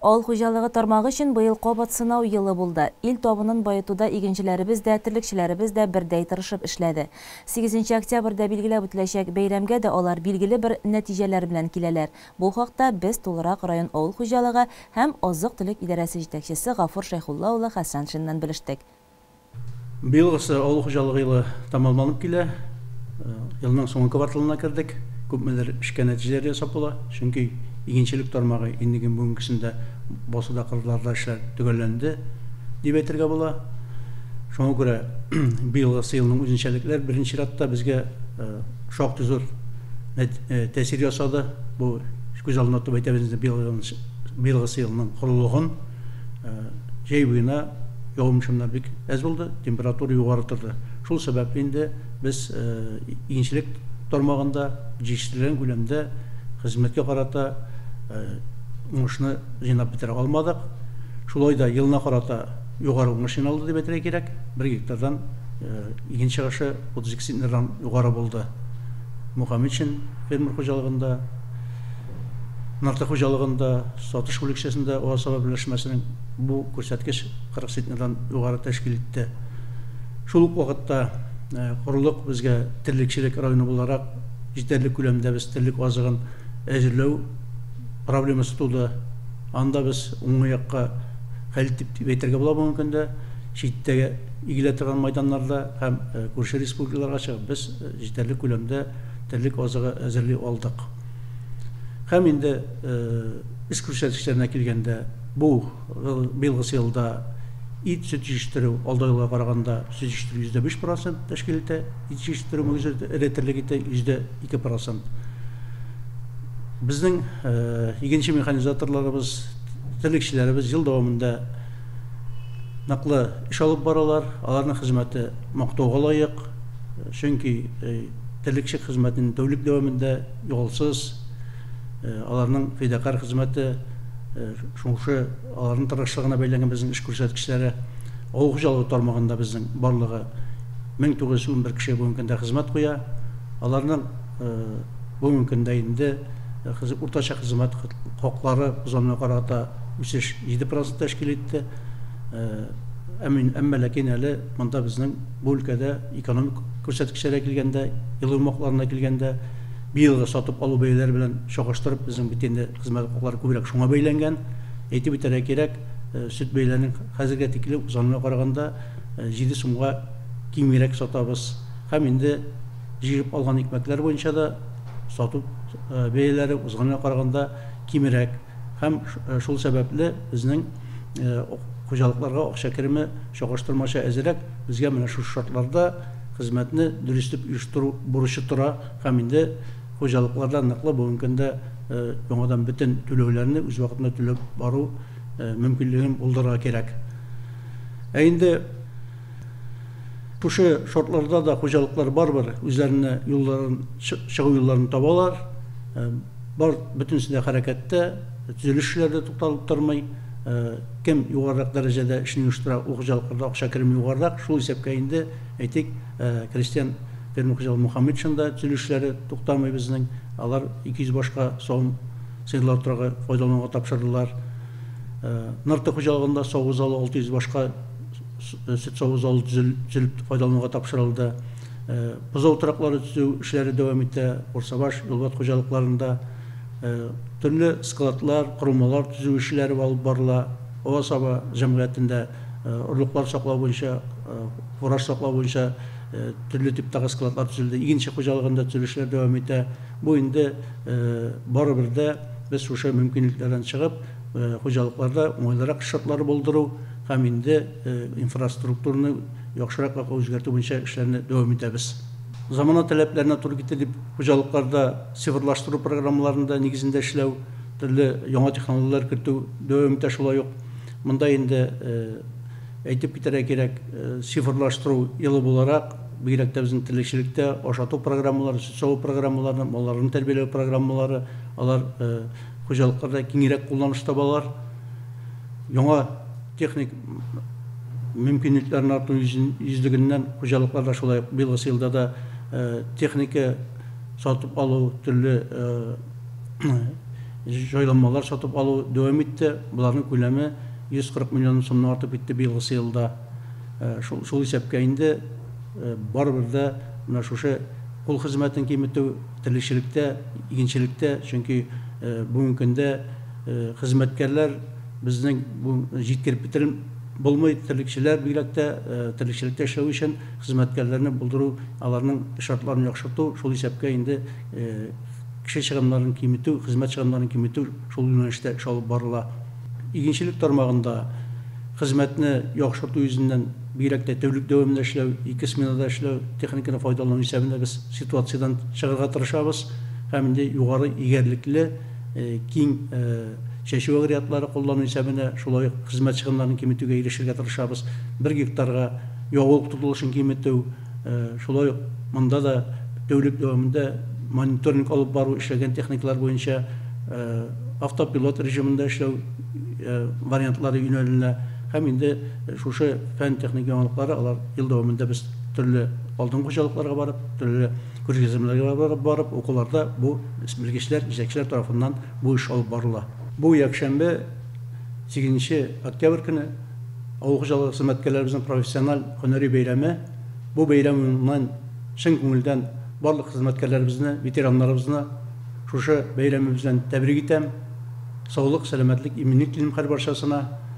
Авыл хуҗалыгы тармагы өчен быел кабат сынау елы булды. Ил табынын баетуда игенчеләребез дә, терлекчеләребез дә бердәй тырышып эшләде. Сигезенче октябрьдә билгеләп үтеләчәк бәйрәмгә дә алар билгеле бер нәтиҗәләр белән киләләр. Бу хакта без тулырак район авыл хуҗалыгы һәм азык-төлек идарәсе җитәкчесе Гафур Шәйхулла улы Хәсәншиннан белештек. Быел исә авыл хуҗалыгы елы тәмамланып килә. Елның соңгы кварталына кердек. Күпмедер эшкә нәтиҗәләр ясап була, чөнки игенчелек тармагы иннең бүгенгесендә басуда, кырларда эшләр төгәлләнде, дип әйтергә була. Шуңа күрә быелгы елның үзенчәлекләр беренче чиратта безгә шактый зур тәэсир ясады. Бу күз алдында тотып әйтәбез инде быелгы елның корылыгын. җәй буена явым-чыннар бик әз булды, температура югары торды. Шул сәбәпле инде без игенчелек тармагында җитештерелгән күләмдә хезмәткә карата уңышны җыйнап бетерә алмадык. Шулай да елына карата югары уңыш җыйналды дип әйтергә кирәк. Бер гектардан иген чыгышы 32 центнердан югары булды. Мухаметшин фермер хуҗалыгында Нарты хуҗалыгында сатыш бүлекчәсендә Уаз-Саба берләшмәсенең бу күрсәткеч 40 центнердан югары тәшкил итте. Шул ук вакытта корылык безгә терлекчелек районы буларак җитәрлек күләмдә без терлек азыгын әзерләү проблемасы туды. Анда без уңгы якка хәл дип дип әйтергә була бүгенге көндә. Читтә игелә торган майданнарда һәм күрше республикаларга чыгып без җитәрлек күләмдә терлек азыгы әзерли алдык. Һәм инде эш күрсәтешләренә килгәндә, бу быелгысы елда ит, сөт җиештерү алдагы елга караганда сөт җиештерү 5 процент тәшкил итә, ит җиештерү мөгезе эре терлек ите 2 процент. Безнең игенче механизаторларыбыз, терлекчеләребез ел дәвамында ныклы эш алып баралар, аларның хезмәте мактауга лаек. чөнки терлекчелек хезмәтен тәүлек дәвамында ялсыз аларның фидакарь хезмәте шушы аларның тырышлыгына бәйләнгән безнең эш күрсәткечләре авыл хуҗалыгы тармагында безнең барлыгы 1911 кеше бүгенге көндә хезмәт куя аларның бүгенге көндә инде уртача хезмәт хаклары узганга карата үсеш 7 процент тәшкил итте әмма ләкин әле монда безнең Бу өлкәдә экономик күрсәткечләргә килгәндә, елый умакларына килгәндә, быелгы сатып алу бәяләре белән чагыштырып, безнең бит инде хезмәт хаклары күбрәк шуңа бәйләнгән. Әйтеп үтәргә кирәк, сөт бәяләрен хәзергә тиклем узганына караганда җиде сумга кимгерәк сатабыз. Һәм инде җыеп алган икмәкләр буенча да сату бәяләре узганына караганда кимерәк. Һәм шул сәбәпле безнең хуҗалыкларга акча кереме чагыштырмача әзерәк, безгә менә шушы шартларда хезмәтне дөрес итеп оештыру бурычы тора һәм инде хуҗалыкларда ныклы бүгенге көндә яңадан бөтен түләүләрне үз вакытында түләп бару мөмкинлеген булдырырга кирәк. Ә инде шушы шартларда да хуҗалыклар барыбер үзләренә юлларын, чыгу юлларын табалар. Бар, бөтенесе дә хәрәкәттә, төзелеш эшләре дә тукталып тормый. Кем югарырак дәрәҗәдә эшне оештыра, ул хуҗалыкларда акча кереме югарырак, шул исәпкә инде, әйтик, крестьян фермер хуҗалыгы Мухаметшин да төзелеш эшләре туктамый безнең. Алар 200 башка савым сыерлар утравы файдалануга тапшырдылар. Нырты хуҗалыгында саву залы 600 башка сөт саву залы төзелеп файдалануга тапшырылды. Бозау тораклары төзү эшләре дәвам итә. Урсабаш, Юлбат хуҗалыкларында төрле складлар, корылмалар төзү эшләре алып барыла. Аваз-һава җәмгыятендә орлыклар саклау буенча, фураж саклау буенча төрле типтагы складлар төзелде. Игенче хуҗалыгында төзелешләр дәвам итә. Бу инде барыбер дә без шушы мөмкинлекләрдән чыгып, хуҗалыкларда уңайлырак шартлар булдыру һәм инде инфраструктураны яхшыракларга үзгәртү буенча эшләрне дәвам итәбез. Замана таләпләренә туры китер дип, хуҗалыкларда цифрлаштыру программаларында нигезендә эшләү, төрле яңа технологияләр кертү дәвам итә Шулай ук монда инде әйтеп китәргә кирәк, цифрлаштыру елы буларак, бигрәк тә безнең терлекчелектә ашату программалары, сөт саву программалары, малларны тәрбияләү программалары, алар хуҗалыкларда киңрәк кулланышта балар. Яңа. Техник мөмкинлекләрнең арту йөзлегеннән хуҗалыклар да шулай ук быелгысы елда да техника сатып алу, төрле җайланмалар сатып алу дәвам итте. Боларның күләме 140 миллион сумнан артып китте быелгысы елда. Шул исәпкә инде барыбер дә менә шушы кул хезмәтен киметү, терлекчелектә, игенчелектә, чөнки бүгенге көндә хезмәткәрләр, Безнең бу җиткереп бетерем булмый, терлекчеләр бигрәк тә терлекчелектә эшләү өчен хезмәткәрләрне булдыру, аларның шартларын яхшырту, шул исәпкә инде кеше чыгымнарын киметү, хезмәт чыгымнарын киметү шул юнәлештә эш алып барыла. Игенчелек тармагында хезмәтне яхшырту йөзеннән, бигрәк тә тәүлек дәвамында эшләү, ике сменада эшләү, техниканы файдалану исәбендә без ситуациядән чыгарга тырышабыз һәм инде югары игәрлекле, киң чәчү агрегатлары куллануйча менә шулай ук хезмәт чыгымнарын киметүгә ирешергә тырышабыз. Бер гектарга ягулык тотылышын киметү, шулай ук монда да тәүлек дәвамында мониторинг алып бару, эшләгән техникалар буенча автопилот режимында эшләү вариантлары юнәленә һәм инде шушы фән-техник яңалыклары алар ел дәвамында без төрле алдынгы хуҗалыкларга барып, төрле Күргәзмәләргә барып-барып укуларда бу белгечләр, җитәкчеләр тарафыннан бу эш алып барыла. Бу якшәмбе, сигезенче октябрь көне авыл хуҗалыгы хезмәткәрләребезнең профессиональ һөнәри бәйрәме. Бу бәйрәм уңаеннан чын күңелдән барлык хезмәткәрләребезне, ветераннарыбызны шушы бәйрәме белән тәбрик итәм. Саулык, сәламәтлек, иминлек телим һәрбарчасына.